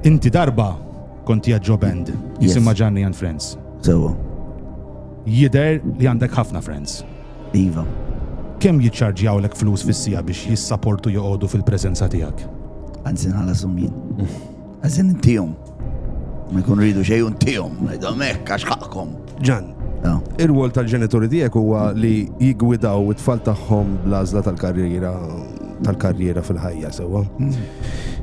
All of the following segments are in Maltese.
Inti darba kont hija Joe Band, jisimha Gianni and Friends. Sewa. Jider li għandek ħafna friends. Iva. Kemm jiċċarġjawlek flus fis-sija biex jissaportu joqogħdu fil-preżenza tiegħek? Anzi nħala summin. Għazin intijom. Ma jkun ridu xej intijom. Għidom ekk, għax ħakkom. Ġan, il-wol tal-ġenituri tiegħek huwa li jigwidaw it-tfal tagħhom bl-għażla tal-karriera tal-karriera fil-ħajja sewwa. Mm.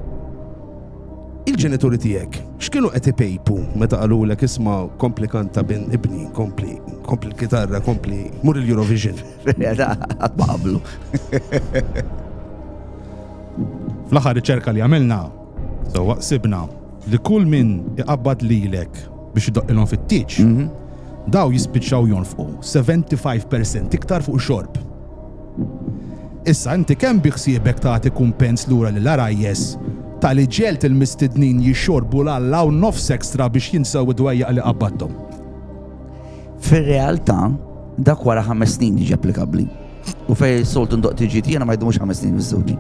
Il-ġenituri tiegħek x'kienu qed ipejpu meta qalulek isma' kompli kanta bin ibni, kompli, kompli l-kitarra, kompli mur il-Eurovision. Qatt ma qablu. Fl-aħħar riċerka li għamilna, so waqsibna li kull min iqabbad lilek biex idoqqilhom fit-tieġ, mhm. daw jispiċċaw jonfqu 75% iktar fuq xorb. Issa inti kemm biħsiebek tagħti kumpens lura lill-għarajjes ta' li ġegħelt il-mistednin jixxorbu l-għalla u nofs extra biex jinsew id-dwejjaq li qabbadthom? Fir-realtà, dak wara ħames snin jiġi applikabbli. U fejn soltu ndoq tiġi jiena ma jdumux ħames snin miż-żewġi.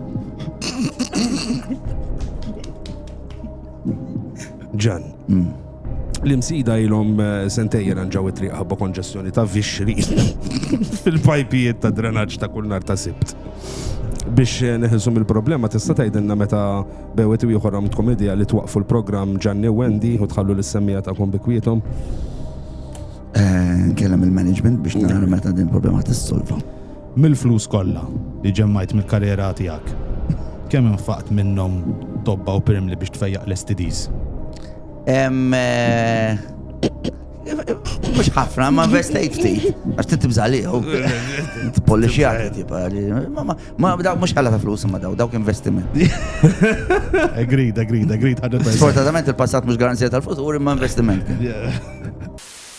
Ġan. Mm. L-imsida ilhom eh, sentej ranġaw it-triq ħabba konġestjoni ta' vixri fil-pajpijiet ta' drenaġġ ta' kull nar ta' sibt. Biex eh, neħilsu mill-problema tista' tgħidilna meta bewet u ieħor għamtkom idea li twaqfu l-programm Ġanni u Wendy u tħallu l-semmija tagħkom bi kwietom. Eh, Nkellem il-management biex nara meta din il-problema tissolva. Mill-flus kollha li ġemmajt mill-karriera tiegħek, kemm infaqt minnhom tobba u pirmli biex tfejjaq l-STDs? Mux ħafna, ma investejt ftit. Għax tinti bżaliħu. Polli xjaħi, tipa. Ma daw mux ħalla ta' flus ma daw, dawk investiment. Agreed, agreed, agreed. Sfortunatament il-passat mux garanzija tal-futur, imma investiment.